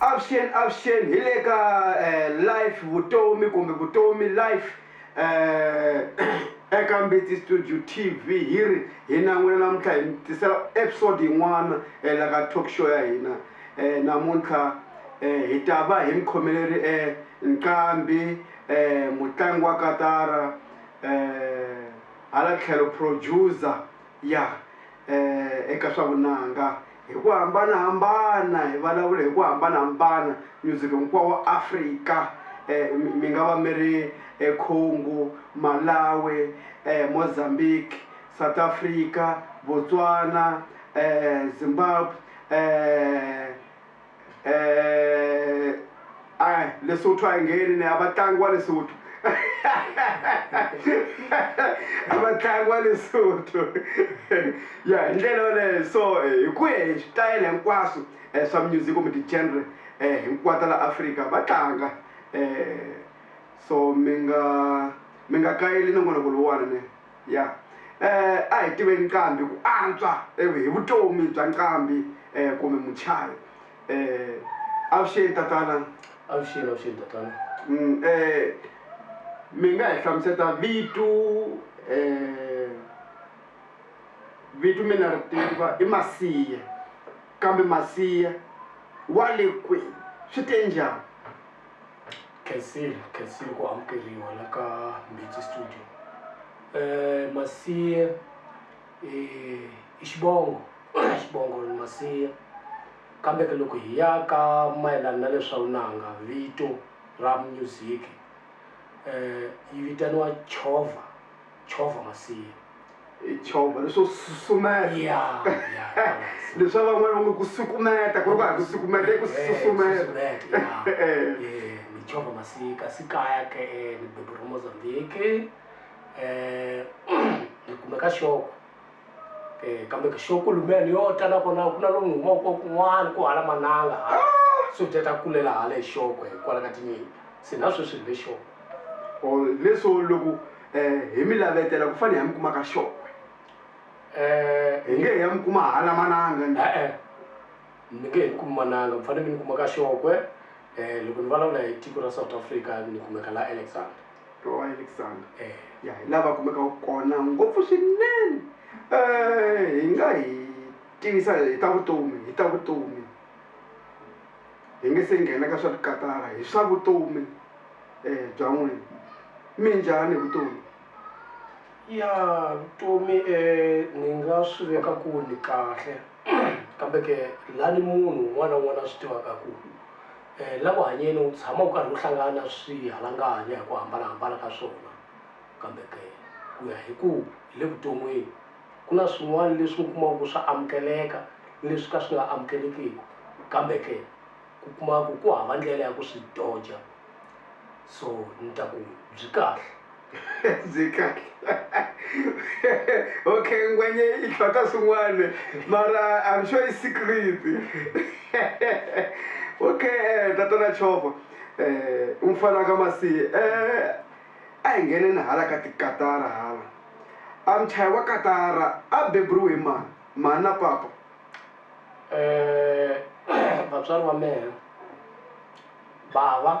Avuxeni avuxeni hi le ka life vutomi kumbe vutomi life eka Mbitsi Studio TV hi ri hi na n'wina namuntlha hi mi tisela episode yin'wana la ka talk show ya hina namuntlha hi ta va hi mi khomele ri Nqambi mutlangi wa katara hala tlhelo producer Ya eka swa vunanga hi ku hambanahambana, hi vulavula hi ku hambanahambana, music hinkwawo wa Afrika, mi mi nga va mi ri eCongo, Malawi, Mozambique, South Africa, Botswana, Zimbabwe, Eh a Lesotho a hi ngheni ne a va tlangi wa Lesotho a va tlangi wa Lesotho ya hi ndlela yoleyo so hi ku ya hi switayele hinkwaswo swa music kumbe ti-genre hinkwato la Afrika va tlanga so mi nga mi nga kayeli nongonoko lowuwani ne. ya um a hi tiveni nqambi ku antswa hi vutomi bya nqambi um kumbe muchavi um avuxeni tatana avuxeni avuxeni tatana um mi nga hi hlamuseta vitu um vitu mina ri tiva i masiya kambe masiya wa le kwini swi te njhani khensile khensile ku amukeriwa la ka mbitsi studio um masiye i xivongo xivongo masiye kambe ke loko hi ya ka mayelana na leswa vunanga vito ra music yi vitaniwa chovha. chovha masiya i chovha leswo susumetaleswi a van'wana va nge ku sukumeta ku ri ku ha ku sukumeta i ku susumetachovha masiya kasi kaya ke e ni beburiwa mozambique um ni kumeka xoko E, kambe xo kulumene yo ta na kona ku na lomu ni humaka ko kun'wana ku hala mananga hala swakudya ta kulela hala hi xoko hi kwala ka tinyimpi se na sweswi ni le xoko o leswo loko um hi mi lavetela ku fane hi ya mi kuma ka xokwe um hi nge hi ya mi kuma hala mananga ni e-e mi nge he ni kumi mananga mi fanele mi ni kuma ka xokwe um loko ni vulavula hi tiko ra south africa ni kumeka la alexander wa Alexander ya hi lava kumekaka kona ngopfu swinene um hi nga hi tivisa hi ta vutomi hi ta vutomi hi nge se nghena ka swa tikatara hi swa vutomi um bya n'wina mi njhani hi vutomi ya vutomi um ni nga swi veka ku ni kahle kambe ke la ni munhu un'wana na un'wana a swi tivaka ku La ku hanyeni wu tshama wu karhi wu hlangana na swihalanganya hi ku hambana-hambana ka swona. Kambe ke, ku ya hi ku hi le vuton'wini, ku na swin'wana leswi mi kumaka ku swa amukeleka ni leswi ka swi nga amukelekiki, kambe ke ku kuma ku ku hava ndlela ya ku swi doja. So ni ta ku byi kahle. ndzi kahle okay ngwanye i tlhwata swin'wana mara I'm sure i secret okay tatana Chova u mufana wa ka Masi a hi ngheneni hala ka tikatara hala a muchayi wa katara a beburiwe hi mani mhani na papa vatswari va mehe bava.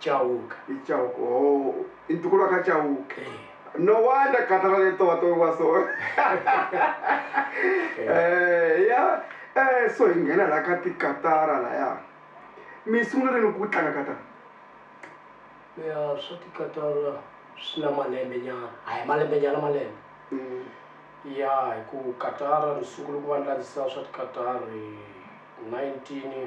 Chauke. Hi Chauke ooh i ntukulu wa ka Chauke e no wonder gata ra le towa towiwa so eh ya eh so hi nghena la ka tikatara laya mi sungule rini ku tlanga katara ya swa tikatara swi na malembe nyana a hi malembe nyana malembe mm. ya hi ku katara ni sungule ku va ni landzisa swa tikatara 19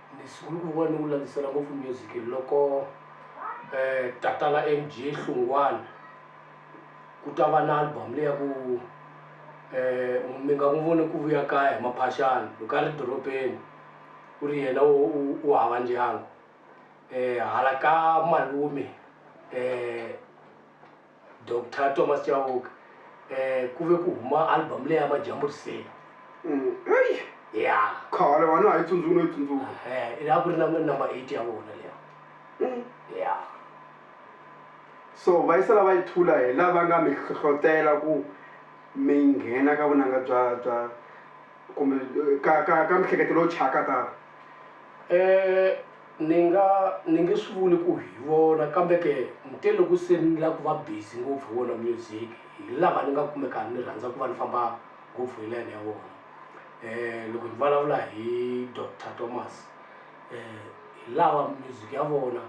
Ni sungule ku va ni wu langutisela ngopfu music loko tatana M_G Hlungwane ku ta va na album leyi ya ku mi nga n'wi voni ku vuya kaya hi maphaxani loko a ri dorobeni ku ri yena wo u hava ndyangu hala ka malume . Doctor Thomas Chauke, Eh, ku ve ku huma album leyi ya Majambu Riseni. Ey! Ya. Khale wa na ha yi tsundzuki no yi tsundzuka. Ehe, a ku ri na number eight ya vona liya. Ya. So va yi sala va yi thula hi la va nga mi hlohlotela ku mi nghena ka vunanga bya bya kumbe ka ka ka mihleketo lowu thyaka tano? Ni nga ni nge swi vuli ku hi vona kambe ke ni te loko se ni la ku va busy ngopfu hi wona music hi lava ni nga kumeka ni rhandza ku va ni famba ngopfu hi line ya wona loko ni vulavula hi doctor Thomas hi lava music ya vona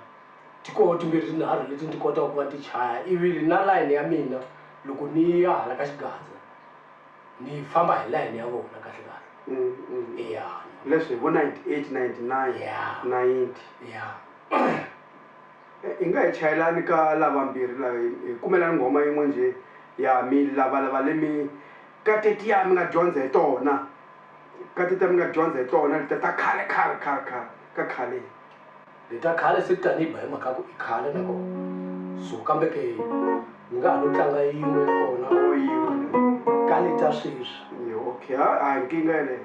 ti koho timbirhi tinharhu leti ni ti kotaka ku va ni ti chaya ivi na line ya mina loko ni ya hala ka xigaza. ni famba hi line ya vona kahle kahle Mm, mm. ya ni famba- leswi hi vo 98 99 Yeah. 90 ya Eh, hi nga hi chayelani ka lavambirhi la hi hi kumelani nghoma yin'we njhe ya mi lavalava lemi ka tetiya mi nga dyondza hi tona ka tetiya mi nga dyondza hi tona letiya ta khale khale khale khale ka khale Hi ta khale se kutani hi ba hi mhaka ya ku i khale na kona so kambe ke mi nga ha lo tlanga yin'we ya kona or yin'we ni ka leta sweswi ni okay ha a hi nkingha yeleyo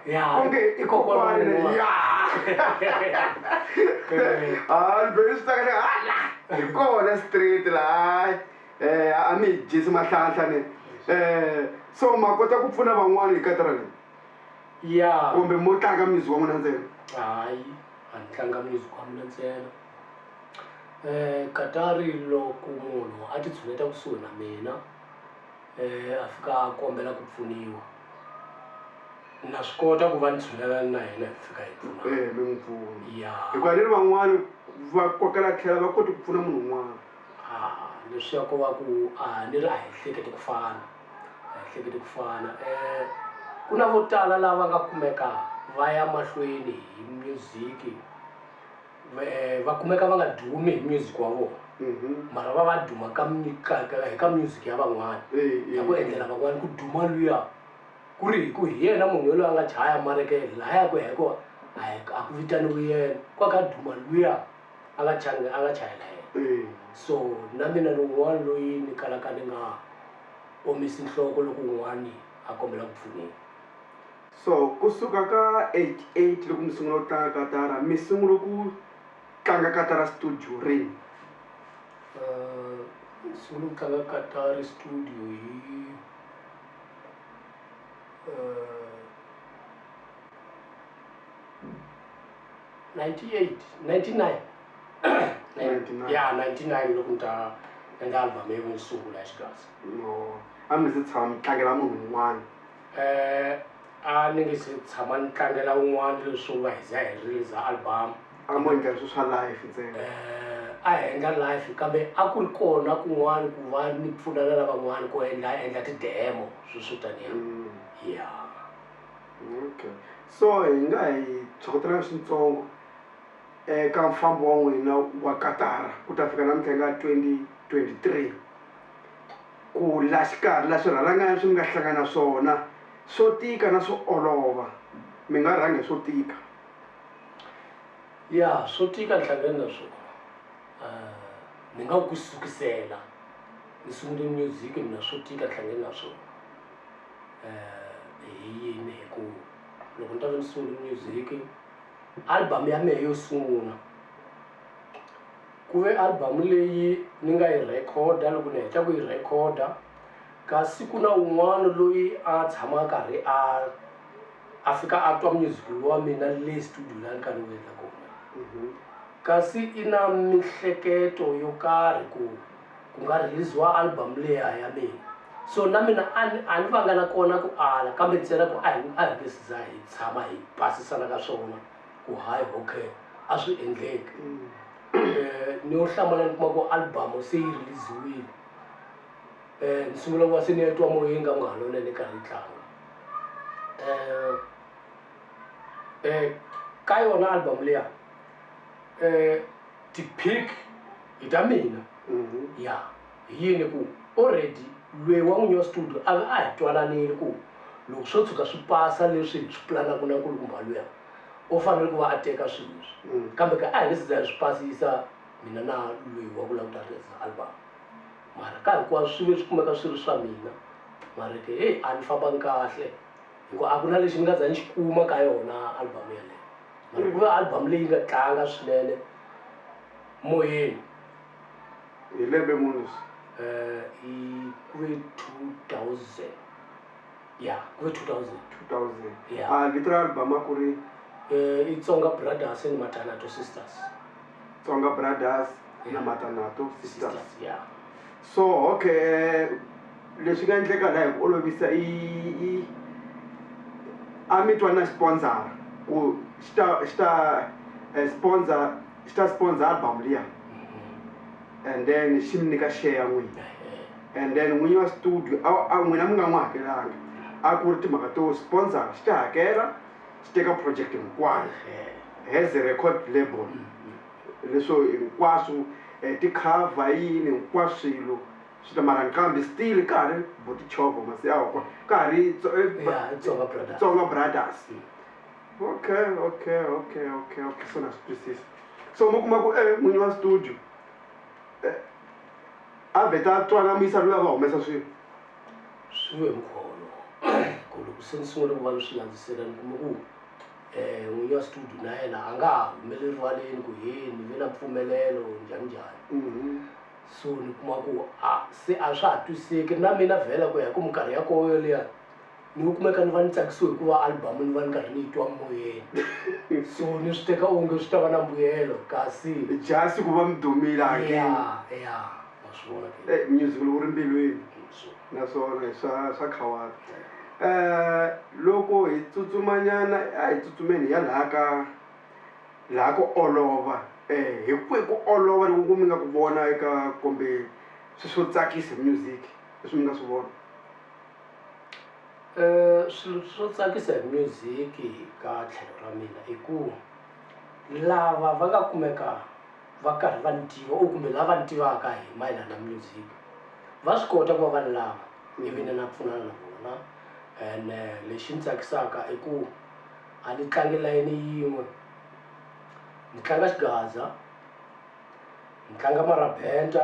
Ya, onge i kokwani kokwana wa- ya hayi ni be ni swi tsaka ni ha la hi kona straight la hayi um a mi hi dyisi mahlanhla ne um so ma kota ku pfuna van'wani hi katara leyi ya kumbe mo tlanga music wa n'wina ntsena hayi a ni tlanga music wa mina ntsena um katari loko munhu a ti tshuneta kusuhi na mina um a fika a kombela ku pfuniwa na swi kota ku va ni tshunelana na yena hi fika hi pfuna eh mi n'wi pfuna ya hikuva ni ri van'wani va kokela tlhela va koti ku pfuna munhu un'wana a leswiya ko va ku a ni ri a hi hleketi ku fana a hi hleketi ku fana um ku na vo tala lava nga kumeka va ya mahlweni hi music Me va kumeka va nga dumi hi music wa vona mara va va duma ka mi- ka- ka- hi ka music ya van'wana Eyi, ya ku eyi, endlela van'wana ku duma luya ku ri hi ku hi yena munhu yoloye a nga chaya mareke laha ya ku ya hi kona a hi- a ku vitaniwi yena ku a kha a duma luya a nga changi a nga chayela yena eyi. so na mina ni un'wana loyi ni kalaka ni nga omisi nhloko loko un'wani a kombela ku pfuniwa So ku suka ka 88 loko mi sungula ku tlanga katara mi sungule ku tlanga katara studio rini? Uh, sungule ku tlanga katara studio hi uh, 98 99 99 ya 99 loko ni ta endla album yo sungula ya xigaza no a mi se tshama mi tlangela munhu un'wana A ni nge se tshama ni tlangela un'wana leswo nga hi za hi riliza album-u. A mo endla leswi swa live ntsena? A hi endla live kambe a ku ri kona kun'wana ku va ni pfuna na lavan'wana ku endla endla ti-demo swilo swo taniya. Ya. Okay. So hi nga hi byokotela swintsongo eka mufambi wa n'wina wa katara ku ta fika namuntlha hi nga twenty twenty three. Ku la xikarhi la swirhalanganya swi mi nga hlangana swona swo tika na swo olova, mi nga rhanga hi swo tika. Ya, swo tika ni hlangane na swona. Uh, ni nga ku ku sukisela ni sungule music mina swo tika ni hlangane na swona. Uh, hi yini? Hi ku loko ni ta ve ni sungule music album ya mehe yo sungula, Ku ve album leyi ni nga yi rhekhoda loko ni heta ku yi rhekhoda kasi ku na un'wana loyi a tshama a karhi a a fika a twa music lowu wa mina le studio laha ni karhi ni wu endla kona mhm. kasi i na mihleketo yo karhi ku ku nga release-wa album leya ya mina so na mina a ni a ni vanga na kona ku ala kambe ntsena ku a hi a hi nge siza hi tshama hi basisana ka swona ku hayi okay a swi endleki um ni yo hlamala ni kuma ku albamu se yi release-wile um ni sungula ku va se ni ya twa moyeni ka ku nga ha lona ni karhi ni tlanga um um ka yona albamu leya um ti-pick hi ta mina mhm. ya yeah. Hi yini? Ku already lweyi wa n'winyi wa studio a va a hi twananile ku loko swo tshuka swi pasa leswi hi swi pulanaka na nkulukumba luya u fanele ku va a teka swilo leswi. Kambe ke a hi nge se za hi swi pasisa mina na lweyi wa ku lava ku ta rhilisa album. Mara ka hinkwaswo swi ve swi kumeka swi ri swa mina. Mara ke heyi a ni fambanga kahle hi ku a ku na lexi ni nga za ni xi kuma ka yona album yaleyo. Mara ku ve album leyi nga tlanga swinene moyeni. Hi lembe muni swi? hi kuve 2000 ya kuve 2000 2000 ya a vito ra album a ku ri eh, i tsonga brothers and matanato sisters tsonga brothers yeah. na matanato sisters, sisters yeah. so okay eh, leswi nga endleka laha hi ku olovisa i a mi twa na sponsor ku xi ta xi ta eh, sponsor xi ta sponsor album liya and then xi mi nyika share ya n'wina and then n'winyi wa studio a n'wina mi nga n'wi hakelanga a ku ri timhaka to sponsor xi ta hakela xi teka project hinkwayo as a record label leswo hinkwaswo ticover yini hinkwaswo swilo swi ta mara nqambi still ka ha ri bo tichovo masiyawa ka ha ri tsonga brothers Okay, okay, okay, okay, okay. Se na swi twisisa. So mi kuma ku eh n'winyi wa studio eh a vheta a twana a muyisa loyi a va humesa swilo. Swi ve mukhuva wolowo ku loko se ni sungule ku va ni swi landzisela ni kuma ku eh n'winyi wa studio na yena a nga ha humele rivaleni ku he ni ve na mpfumelelo njhani njhani. So ni kuma ku a se a swa ha twisiseki na mina vhela ku ya hi ku minkarhi ya koho yoliya ni u kumeka ni va ni tsakisiwe hikuva album ni va ni karhi ni yi twa moyeni so ni swi teka onge swi ta va na mbuyelo kasi just ku va mi dumile again ya ya wa swi vona ke Eh, music lowu ri mbilwini so naswona hi swa swa khawata um loko hi tsutsumanyana a hi tsutsumeni hi ya laha ka laha ku olova um hi kwihi ku olova loko ku mi nga ku vona eka kumbe swi swo tsakisa music leswi mi nga swi vona Swilo swo tsakisa hi music ka tlhelo ra mina i ku lava va nga kumeka va karhi va ni tiva or kumbe lava ni tivaka hi mayelana music va swi kota ku va va ni lava ivi ni na pfunana na vona ene lexi ni tsakisaka i ku a ni tlangi layeni yin'we ni tlanga xigaza ni tlanga marabenda.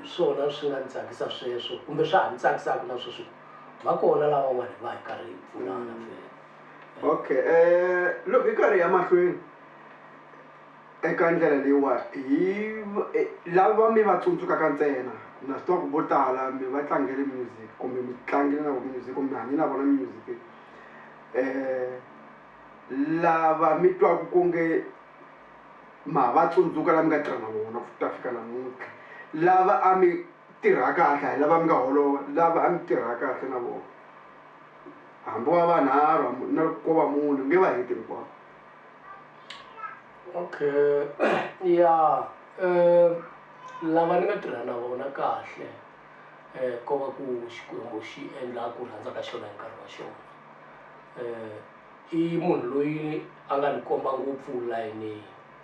Hi swona swi nga ni tsakisa sweswo kumbe swa ha ni tsakisaka na sweswi ku va kona lavan'wana hi va hi karhi hi pfunana fela. Okay um loko hi karhi hi ya mahlweni eka ndlela leyiwa hi lava mi va tsundzukaka ntsena na swi tiva ku vo tala mi va tlangele music kumbe mi tlangile na vo music kumbe mi hanye na vona music um lava mi twaku ku nge. Ma ha va tsundzuka lava mi nga tirha na vona ku ta fika namuntlha? Lava a mi tirha kahle a hi lava mi nga holova? Lava a mi tirha kahle na vona, hambi va vanharhu hambi na loko ko va mune mi nge va heti hinkwavo. Okay ya lava ni nga tirha na vona kahle ko va ku Xikwembu xi endla ku rhandza ka xona hi nkarhi wa xona . I munhu loyi a nga ni komba ngopfu layeni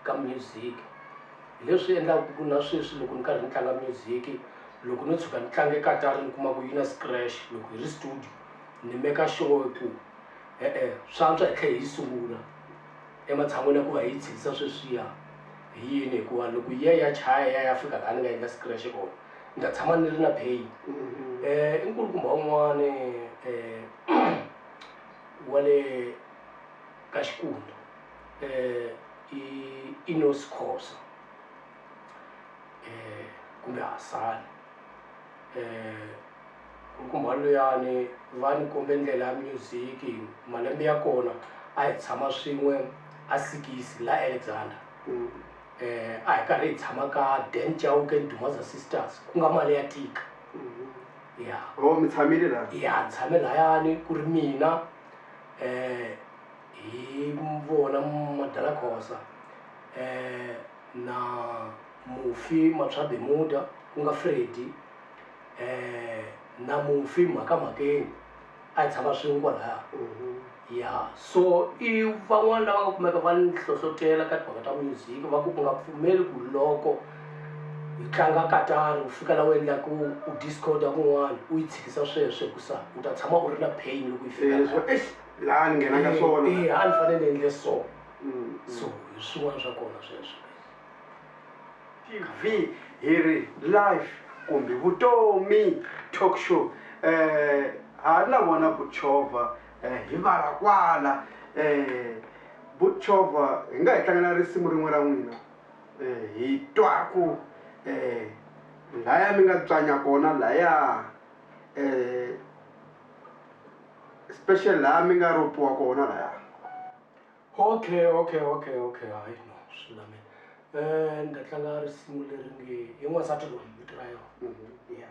ka music hi leswi endlaku ku na sweswi loko ni karhi ni tlanga music loko no tshuka ni tlange katara ni kuma ku yi na scratch loko hi ri studio ni meka sure ku e-e swa antswa hi tlhe hi yi sungula ematshan'wini ya ku va hi yi tshikisa sweswiya hi yini hikuva loko yi ya yi ya chaya yi ya yi ya fika laha ni nga endla scratch kona ni ta tshama ni ri na pain i nkulukumba wun'wani . wa le ka Xikundu eh, i Enos Khosa eh, kumbe Hasani eh, nkulukumba luyani va ni kombe ndlela ya music malembe ya kona a hi tshama swin'we a sikisi la alexander mm. eh, a hi karhi hi tshama ka dan chauke dumaza sisters ku nga mali ya tika mm -hmm. ya or mi tshamile la ya ni tshame layani ku ri mina hi vona madala khosa na mufi matswabe muda ku nga fredi na mufi mhaka mhakeni a hi tshama swin'we kwalaya ya so i van'wani lava nga kumeka va ni hlohlotela ka timhaka ta music va ku u nga pfumeli ku loko hi tlanga katara u fika la u endla ku u discorder kun'wani u yi tshikisa sweswo hikusa u ta tshama u ri na pain loko yi fika leswo eish laha ni nghenaka swona a ni fanele ni endle so so hi swin'wana swa kona sweswo. TV hi ri live kumbe vutomi talk show eh ha ri na vona Butchovha eh hi vala kwala eh Butchovha hi nga hi tlangela risimu rin'we ra n'wina eh hi twaku eh laya mi nga tswanya kona laya eh special laha mi nga ropiwa kona laya. Okay okay okay okay hayi no swi lulamile um ni ta tlanga risimu leri nge hi n'wansati loyi vito ra yona mhm. ya